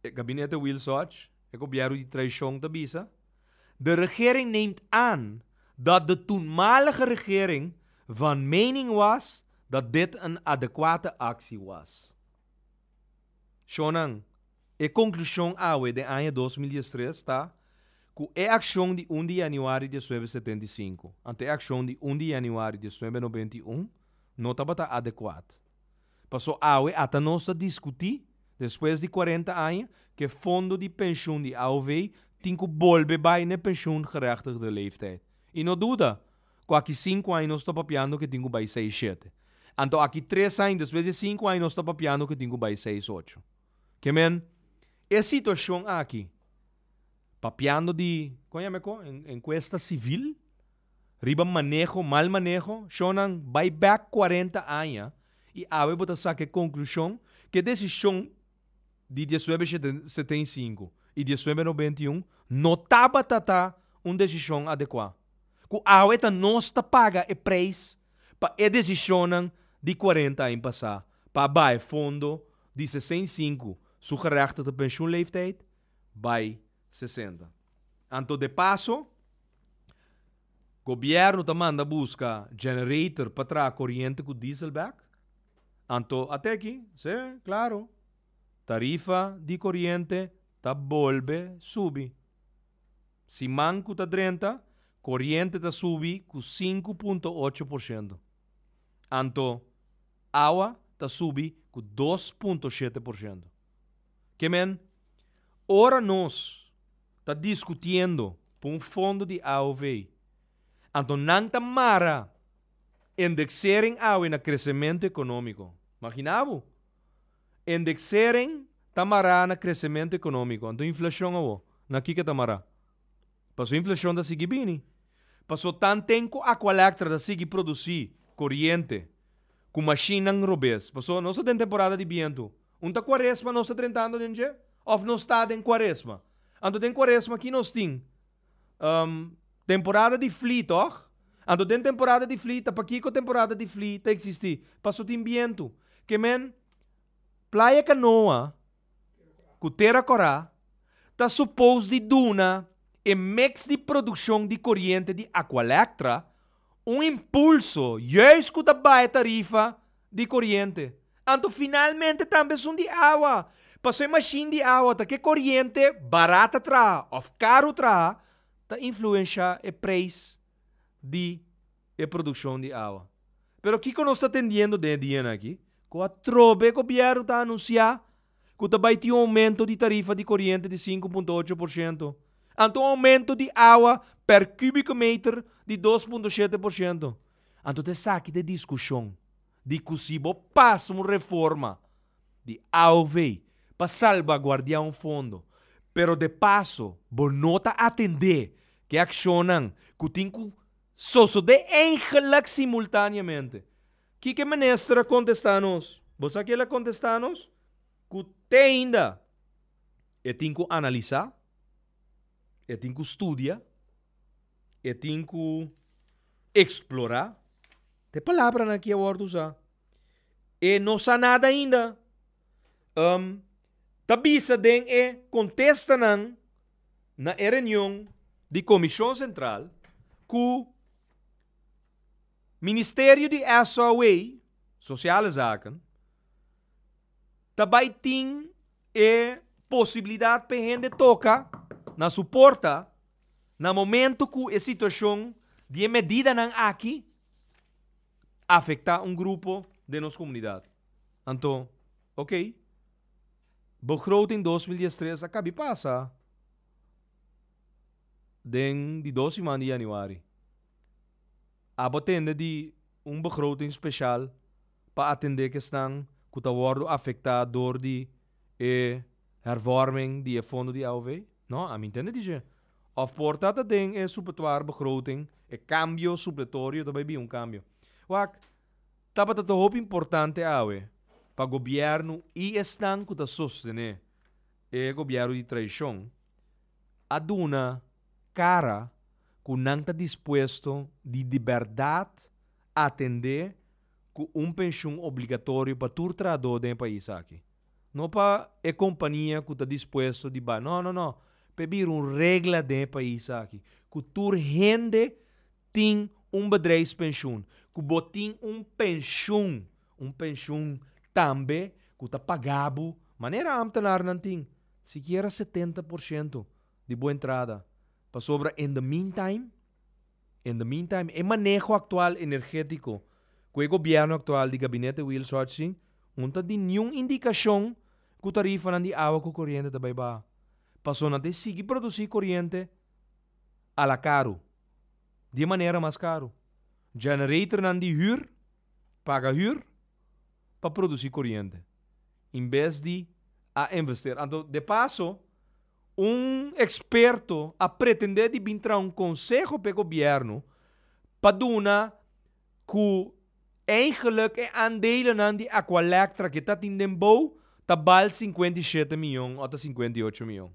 E gabinete Wilsoch, e gobièrnu di traishon ta bisa, De regering neemt aan dat de toenmalige regering van mening was dat dit een adequate actie was. Shonnan, e conclusion awe den aña dos mil diestres ta cu e accion di un di januari diesnuebe setenta i sinku ante e accion di un di januari diesnuebe noventa i un no tabata adecuat. Paso awe ata nos ta discuti, despues di cuarenta aña, ke fondo di pensioen di AOV tin cu bolbe bay n'e pensioengerechtigde leeftijd. Y no duda cu aki cinco aña nos ta papiando ke tin cu bay seis shete. Anto aki tres aña despues di e cinco aña nos ta papiando ke tin cu bay seis ocho. Ke men, e situacion aki, papiando di, con a yama eko? Encuesta civil? riba maneho, mal maneho, shonnan bai bek cuarenta aña y awe bo ta saka e conclusion cu e decision di diesnuebe seten y sinku y diesnuebe nobenta y un no tabata ta un decision adecua, cu awe ta nos ta paga e prijs pa e decisionnan di cuarenta aña pasa pa a bai fondo di sesen y sinku su gerechtigde pensioenleeftijd bai sesenta. Anto de paso. Gobierno ta manda buska generator pa traha coriente cu diesel bek. Anto a te aki, si, claro, tarifa di coriente ta bolbe subi. Siman cu ta drenta, coriente ta subi cu sinku punto ocho por ciento. Anto, awa ta subi cu dos punto shete por ciento. Ke men, ora nos ta diskutiendo pa un fondo di AOV, anto nan ta mara indeksering awe na kresementu ekonómiko. Magina bo, indeksering ta mará na kresementu ekonómiko, anto inflashon awor na kiko e ta mará? Pasobra inflashon ta sigui bini. Pasobra tan ten ku Aqualectra ta sigui produsí koriente ku mashinnan robes. Pasobra nos ta den temporada di bientu. Un ta Kuaresma nos ta drentando den dje òf nos ta den Kuaresma? Anto den Kuaresma ki nos tin? Temporada di flí, tòg? Anto den temporada di flí, ta pakiko temporada di flí ta eksistí? Paso tin bientu. Ke men Playa Kanoa ku Tera Kòrá ta supos di duna e mèks di produkshon di koriente di Aqualectra un impulso, yùis ku ta bai tarifa di coriente, anto finalmente tambe esun di awa. Paso e machine di awa ta ke coriente barat ta traha of caro traha ta influensha e prijs di e produccion di awa. Pero kico nos ta tendiendo den e dianan aki? Cu atrobe e gobierno ta anuncia cu ta bay tin un aumento di tarifa di coriente di sinku punto ocho por ciento, anto un aumento di awa per cubico meter di dos punto shete por ciento. Anto ta esaki ta e diskushon di ku si bo pasa un reforma di AOV pa salbaguardiá un fondo, pero de paso bo no ta atendé ku e akshonnan ku tin ku sosodé eigelik simultáneamente. Kiko e minister a kontestá nos? Bo sa ke el a kontestá nos? Ku teinda e tin ku analisá, e tin ku studia, e tin ku. Eksplorá. Te palabranan ki a wòrdu usá e no sa nada ainda. Um ta bisa den e kontestanan na e reunion di komishon sentral ku Ministerio di SOW, Sosiale Zaken, ta bai tin e posibilidat pa e hende toka na su porta Na momentu ku e situashon di e medidanan aki afektá un grupo den nos komunidat, anto ok, begroting dos mil dies tres a kabi pasa den di dos siman di yanüari. Abo a tende di un begroting speshal pa atendé ke esnan ku ta wòrdu afektá dor di. e hervorming di e fondo di AOV? No, a mi ntende di dje. Òf por ta ta den e supetuar begroting, e kambio supletorio ta bai bin un kambio. Wak, tabata ta hopi importante awe pa gobièrnu i esnan ku ta sostené e gobièrnu di traishon a duna kara ku nan ta dispuesto di di bèrdat atendé cu un pension obligatorio pa tur trahador den e pais aki. No pa e compania cu ta dispuesto di bai. No, no, no. Pe bira un regla den e pais aki cu tur hende tin un bedrijfspensioen, cu bo tin un pensioen, un pensioen tambe cu ta paga bo manera ambtenarnan tin, sikiera setenta por ciento di bo entrada. Pasobra in the meantime. In the meantime, e maneho aktual energétiko ku e gobièrnu aktual di Gabinete Wiel Sochi un ta di niun indikashon ku tarifanan di awa ku koriente ta bai baha. Paso nan ta e sigui produsí koriente a la karu, di e manera mas karu. Generatornan di hür, paga hür pa produsí koriente, in bes di a investera. Anto de paso, Un eksperto a pretendé di bin traha un konseho p'e gobièrnu pa duna ku eigenlik e andelenan di Aqualectra ku e tatin den bou ta bal sinkuenta i shete mion òf ta sinkuenta i ocho mion.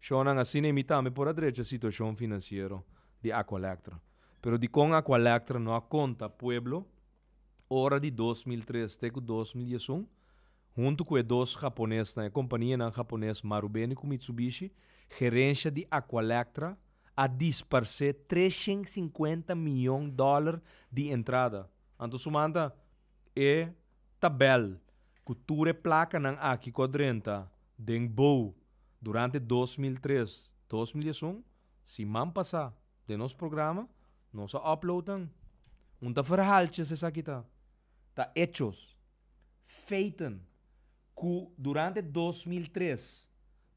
Shònan asina e mita mi por a drecha situashon finansiero di Aqualectra. Pero dikon Aqualectra no a konta pueblo ora di dos mil tres te ku dos mil diesun? Huntu ku e dos haponesnan, e kompanianan hapones Marubeni ku Mitsubishi, gerensha di Aqualectra a dispars'é tres shen sinkuenta miyon dòler di entrada. Anto sumanta e tabèl ku tur e plakanan aki ku a drenta den bou durante dos mil tres, dos mil dies un, siman pasá den nos programa nos a upload nan. Un ta ferhaltjes esaki ta, ta echos. feiten cu durante dos mil tres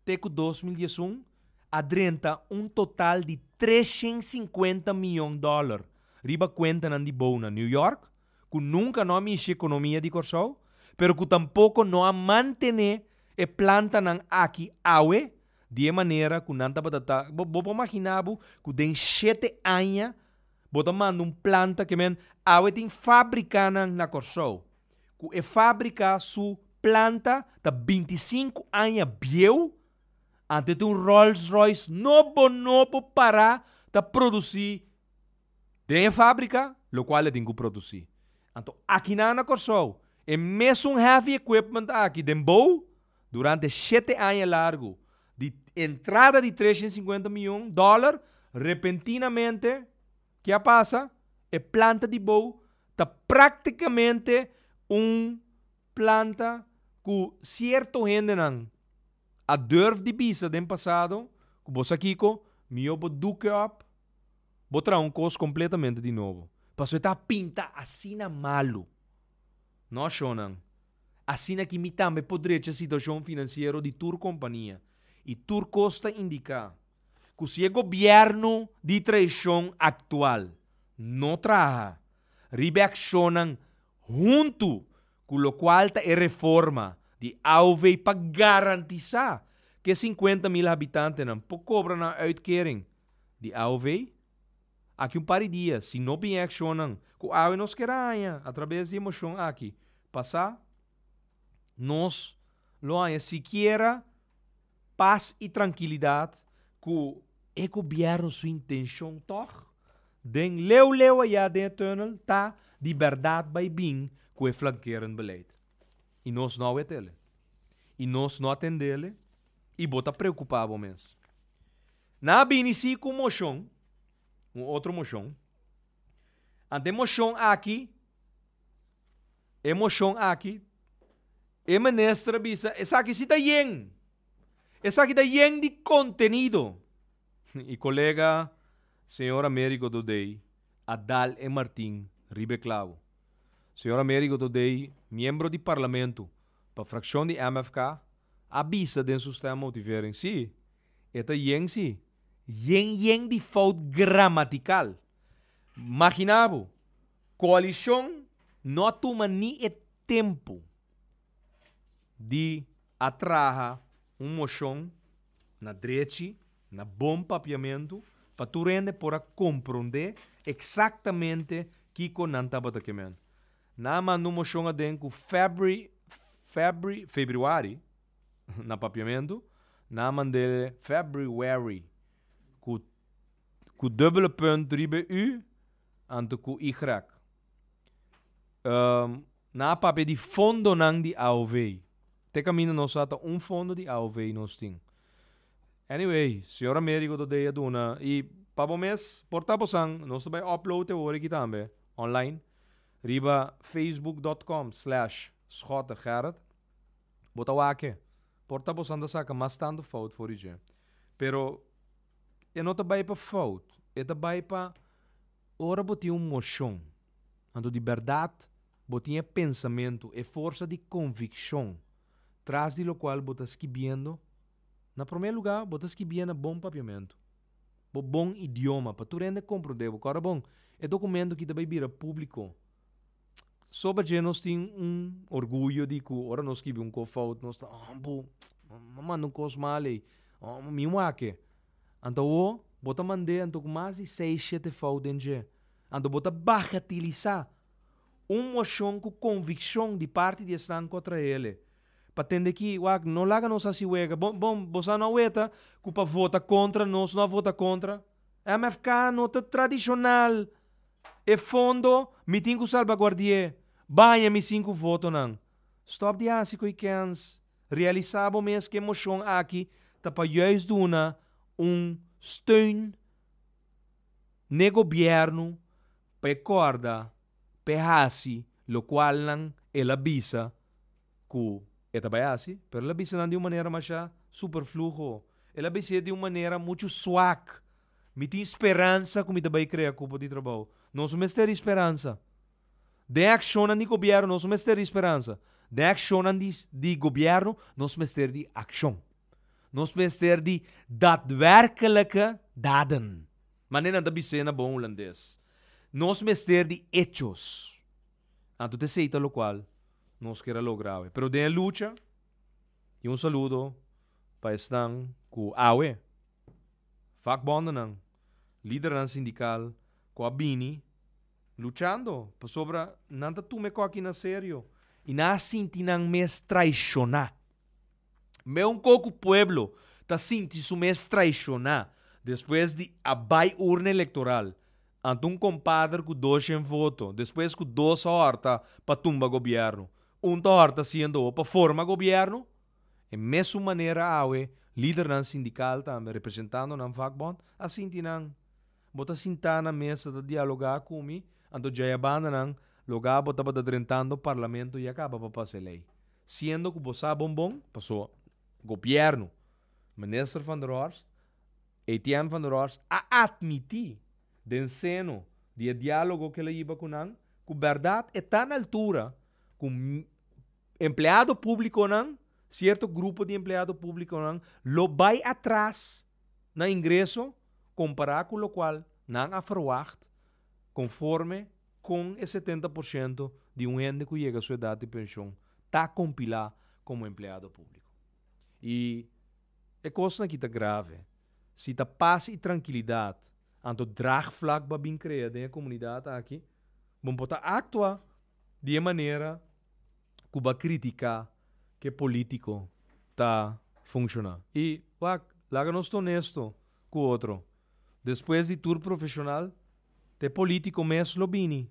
te cu dos mil diesun a drenta un total di treshen sinkuenta mion dollar riba cuentanan di bou na New York cu nunca no a mishi economia di Corsou pero cu tampoco no a mantene e plantanan aki awe di e manera cu nan tabata ta bo por magina bo cu den shete aña Bo ta manda un planta ke men awe tin fábrikanan na Kòrsou ku e fábrika su planta ta binti i sinku aña bieu anto e ta un Rolls Royce nobo nobo pará ta produsí den e fábrika lokual e tin ku produsí. Anto aki nan na Kòrsou e mesun heavy equipment aki den bou Durante shete aña largu, di entrada di tres y cincuenta mion dollar, repentinamente, ke a pasa? E planta di bou ta practicamente un planta cu cierto hendenan a durf di bisa den pasado cu bo sa kico? Mijo bo duke op, bo traha un cos completamente di nobo. Pasobra e ta pinta asina malu. No ashonan. Asina ki mi tambe por drecha situashon finansiero di tur kompania i tur kos ta indiká ku si e gobièrnu di traishon aktual no traha riba e akshonnan huntu ku lokual ta e reforma di AOV pa garantisá ku e sinkuenta mil habitantenan por kobra nan uitkering di AOV. Aki un par di dia, si no bin e accionnan cu awe nos kier a haña atraves di e mocion aki pasa, nos lo haña sikiera pas y trankilidad cu e gobierno su intencion tog den leu leu aya den e tunnel ta di berdad bay bin cu e flankerend beleid. Y nos no a wetele. Y nos no a tendele y bo ta preocupa bo mes. Nan a bini si ku moshon, un otro moshon. Ante e moshon aki, e moshon aki, e minister a bisa esaki si ta yen, esaki ta yen di kontenido. I kolega señor Americo Dodei a dal e martin riba e klabo. Señor Americo Dodei, miembro di parlamento pa frakshon di MFK, a bisa den su stemmotivering, si, E ta yen si. Yen yen di fout gramatikal. Magina bo, koalishon no a tuma ni e tempu di a traha un moshon na drechi, na bon papiamentu, pa tur hende por a komprondé eksaktamente kiko nan tabata ke men. Nan a manda un moshon aden ku febri, febri, febrüari. na papiamentu nan a mand'é February ku ku dùbbele punt riba e u anto ku y. nan a papia di fondonan di AOV. Te kaminda nos sa ta un fondo di AOV nos tin. Anyway, señor Americo ta dei a duna i pa bo mes por ta bosan nos ta bai upload e worde aki tambe online riba facebook dot com slash Schotegerrit. Bo ta wak-e. Por ta boso a saka mas tantu fout for di dje. Pero e no ta bai pa fout. E ta bai pa ora bo tin un moshon, anto di bèrdat bo tin e pensamentu, e forsa di konvikshon tras di lokual bo ta skibiendo. Na promé lugá, bo ta skibié na bon papiamentu, bo bon idioma pa tur hende komprondé bo. Kòrdá bon, e dokumentu akí ta bai bira públiko. Soba dje nos tin un orguyo di ku ora nos skibi un kos fout nos ta bo a manda un kos mal ei, mi wak-e. Anto awo bo ta mand'é anto ku mas di seis, shete fout den dje. Anto bo ta bagatelisá un moshon ku konvikshon di parti di esnan ku a trae al'é. Pa tende ki wak no laga nos hasi wega. Bo bo bo sa no a weta ku pa vota kontra nos no a vota kontra? Mfk no ta tradishonal. E fondo mi tin ku salbaguardi'é, baña mi sinku votonan. Stòp di hasi koe kèns, realisá bo mes ku e moshon aki ta pa juis duna un steun n'e gobièrnu pa e kòrda pa e hasi lokualnan el a bisa ku e ta bai hasi, pero el a bisa nan di un manera masha superfluo. El a bis'é di un manera muchu suak. Mi tin speransa ku mi ta bai krea kupo di trabou. Nos no mester ha'I speransa. Den akshonnan di gobièrnu nos no mester ha'I speransa. Den akshonnan di di gobièrnu nos mester di akshon. Nos mester di datwèrkelike daden. Manera nan ta bis'é na bon hulandes, nos mester di echos. Anto te seita lokual nos kier a logra awe. Pero den e lucha, i un saludo pa esnan ku awe. Vakbondennan, lidernan sindikal ku a bini luchando pasobra nan ta tuma e koki na serio. I nan a sinti nan mes traishoná. Meu un koku pueblo ta sinti su mes traishoná despues di a bai urna elektoral ante un kompader ku doshen voto despues ku dos ta horta pa tumba gobièrnu, un ta horta siendo pa forma gobièrnu E mesun manera awe lidernan sindikal tambe representando nan vakbond a sinti nan. Bo ta sintá na mesa ta dialogá ku mi, anto djayabanda nan lo ga bo tabata drentando parlamento ya kaba pa pasa e lei. Siendo ku bo sa bon bon paso gobièrnu, Minister van der Horst, Etienne van der Horst a atmití den seno di e diálogo ku el a yiba ku nan ku bèrdat e ta na altura ku Empleado públikonan, sierto grupo di empleado públikonan lo bai atras na ingreso kompará ku lokual nan a ferwagt konforme kon e setenta por siento di un hende ku yega su edat di penshon ta kompilá komo empleado públiko. I e kosnan aki ta grave. Si ta pas i trankilidat anto draagvlak bo a bin krea den e komunidat aki, bo por ta aktua di e manera. cu ba critica ke politico ta funciona. Y wak, laga nos ta honesto cu otro, despues di tur profesional te politico mes lo bini,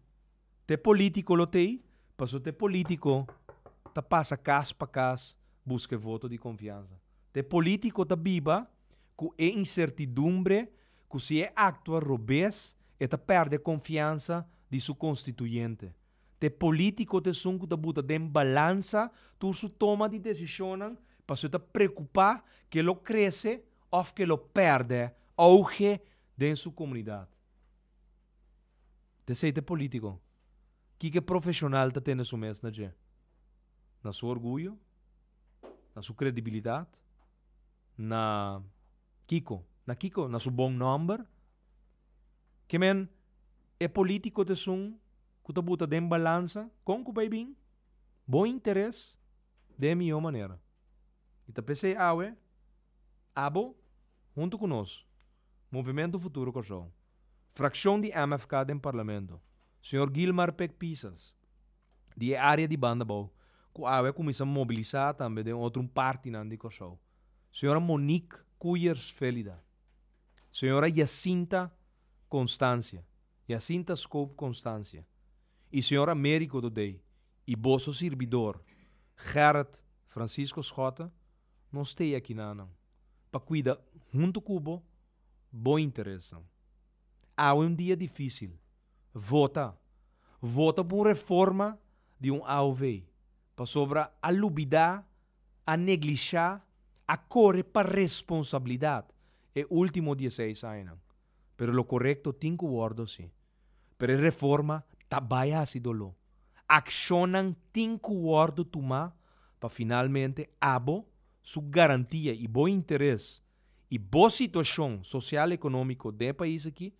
te politico lo tey, pasobra te politico ta pasa cas pa cas busca e voto di confianza. Te politico ta biba cu e incertidumbre cu si e actua robes e ta perde e confianza di su constituyente. Te polítiko ta esun ku ta buta den balansa tur su toma di desishonnan pasobra e ta preokupá ku e lo krese òf ku e lo pèrdè ouge den su komunidat. P'esei te polítiko, kiko profeshonal ta tene su mes na dje? Na su orguyo? Na su kredibilidat? Na kiko? Na kiko? Na su bon nòmber? Ke men e polítiko ta esun ku ta buta den balansa kon ku bai bin bo interes den e mihó manera. I ta p'esei awe abo huntu ku nos, Movimiento Futuro Kòrsou, frakshon di MFK den Parlamento, señor Guilmar Pek Pisas di e área di banda bou ku awe a kuminsá mobilisá tambe den otro un partinan di Kòrsou, señora Monique Kuyers Vélida. Señora Yacinta Constancia, Yacinta Scope Constancia, y Señor Americo Dodey y boso sirbidor Gerrit Francisco Schotte nos t'ey akinánan pa cuida hunto cu bo bo interesnan. Awe un dia difícil. Vota! Vota pa un reforma di un AOV pasobra a lubidá a neglishá, a kore pa responsabilidat e último dieseis añanan. Pero lo korekto tin ku wòrdu así. Pero e reforma ta bai hasi doló. Akshonnan tin ku wòrdu tumá pa finalmente abo su garantia i bo interes i bo situashon sosial-ekonómiko den e pais aki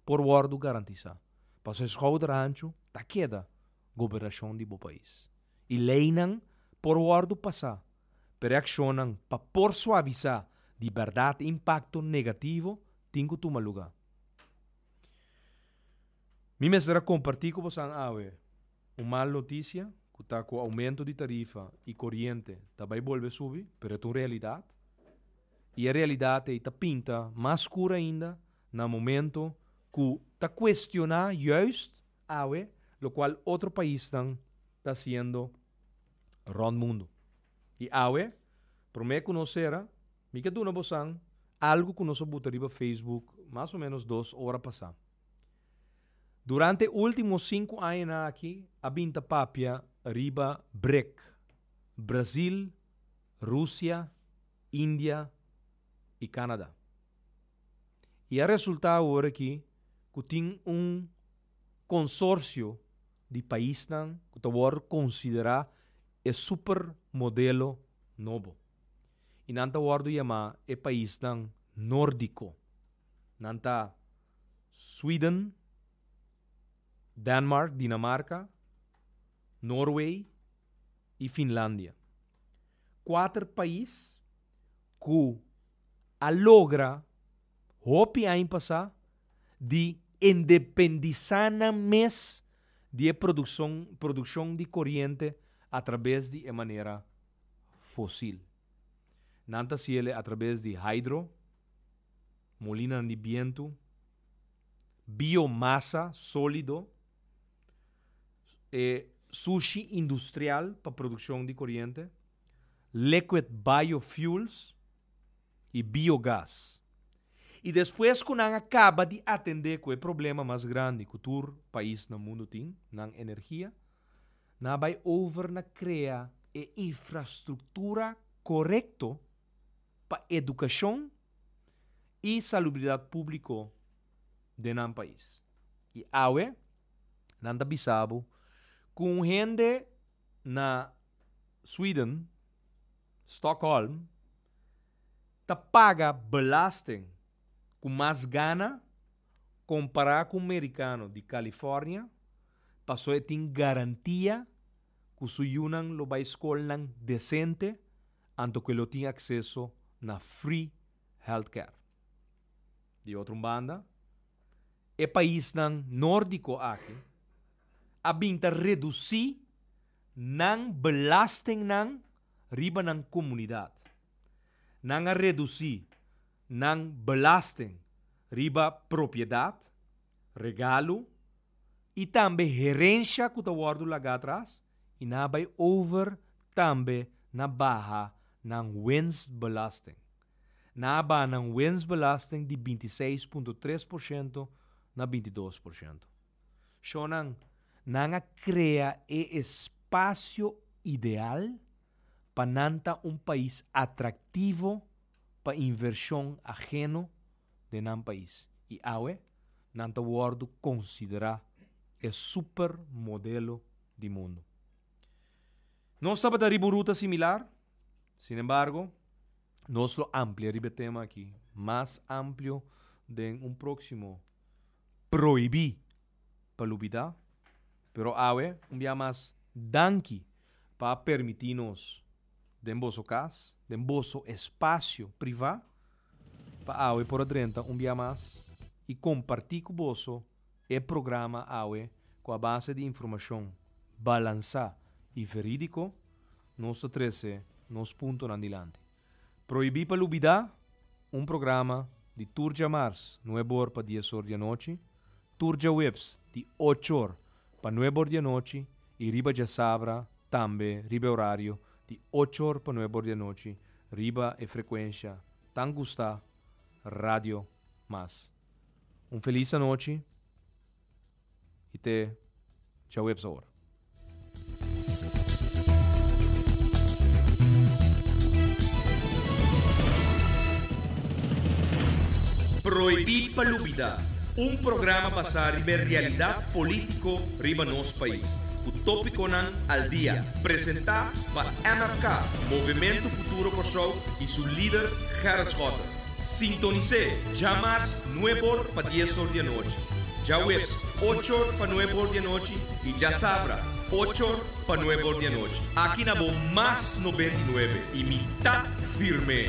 por wòrdu garantisá. Pasobra e skouder ancho ta keda. gobernashon di bo pais i leinan por wòrdu pasá, pero e akshonnan pa por suavisá di bèrdat e impakto negativo tin ku tuma lugá. Mi mester a kompartí ku bosan awe un mal notisia ku ta ku oumentu di tarifa i koriente ta bai bolbe subi, pero e ta un realidat, i e realidat ei ta pinta mas skur ainda na momentu ku ta kuestioná yùist, awe lokual otro paisnan ta hasiendo rònt mundu. I awe, promé ku nos sera, mi ke duna bosan algu ku nos a buta riba Facebook mas o ménos dos ora pasá. Durante e último sinku añanan aki a bin ta papia riba BRIC, Brasil, Rusia, India i Canada. y a resulta awor aki cu tin un consorcio di paisnan cu ta worde considera e super modelo nobo y nan ta worde yama e paisnan Nordico. Nan ta Sweden, Danmark, Dinamarca, Norway y Finlandia. Cuater pais cu. a logra hopi aña pasá di endependisá nan mes di e produkson produkshon di koriente atrabes di e manera fosil. Nan ta hasiele atrabes di hydro, molinanan di bientu, biomasa sólido, e sushi industrial pa produkshon di koriente, liquid biofuels y biogas. Y despues cu nan a caba di atende cu e problema mas grandi cu tur pais na mundo tin, nan energia, nan a bay over na crea e infrastructura corecto pa educacion y salubridad publico den nan pais. Y awe nan ta bisa bo cu un hende. na Sweden, Stockholm, ta paga belasting cu mas gana compara cu mericano di California paso e tin garantia cu su yunan lo bay scolnan decente anto cu e lo tin acceso na free healthcare. Di otro banda, e paisnan Nordico aki. a bin ta redusi nan belastingnan riba nan komunidat. Nan a redusi nan belasting riba propiedat, regalo i tambe herensha ku ta wòrdu lagá atras i nan a bai over tambe na baha nan wensbelasting. Nan a baha nan wensbelasting di binti seis punto tres por shento na binti dos por shento. Shonnan, nan a krea e espasio ideal pa nan ta un pais atraktivo pa invershon aheno den nan pais i awe nan ta wòrdu konsiderá e super modelo di mundu. Nos tabata riba un ruta similar, sin embargo, nos lo amplia riba e tema aki mas amplio den un próksimo. prohibí pa lubidá, pero awe un bia mas danki pa a permití nos den boso kas, den boso espasio privá, pa awe por a drenta un bia mas i kompartí ku boso e programa awe ku a base di informashon balansá i verídiko nos ta trese nos puntonan dilanti. Prohibí pa lubidá, un programa di tur djamars nuebe or pa dies or di anochi, tur djaweps di ocho or pa nuebe or di anochi i riba djasabra tambe riba e orario di ocho or pa nuebe or di anochi riba e frekuensha tan gustá Radio Mas. Un felis anochi. y te djaweps awor. Prohibí pa lubidá, un programa basá riba e realidat polítiko riba nos pais, ku tópikonan al dia, presentá pa MFK, Movemento Futuro Kòrsou, i su lider Gerrit Schotten. Sintonis'é djamas nueb'or pa diesor di anochi, djaweps ochor pa nueb'or di anochi i djasabra ochor pa nueb'or di anochi aki na bo Mas Nobenta i Nuebe i mi ta firm'é.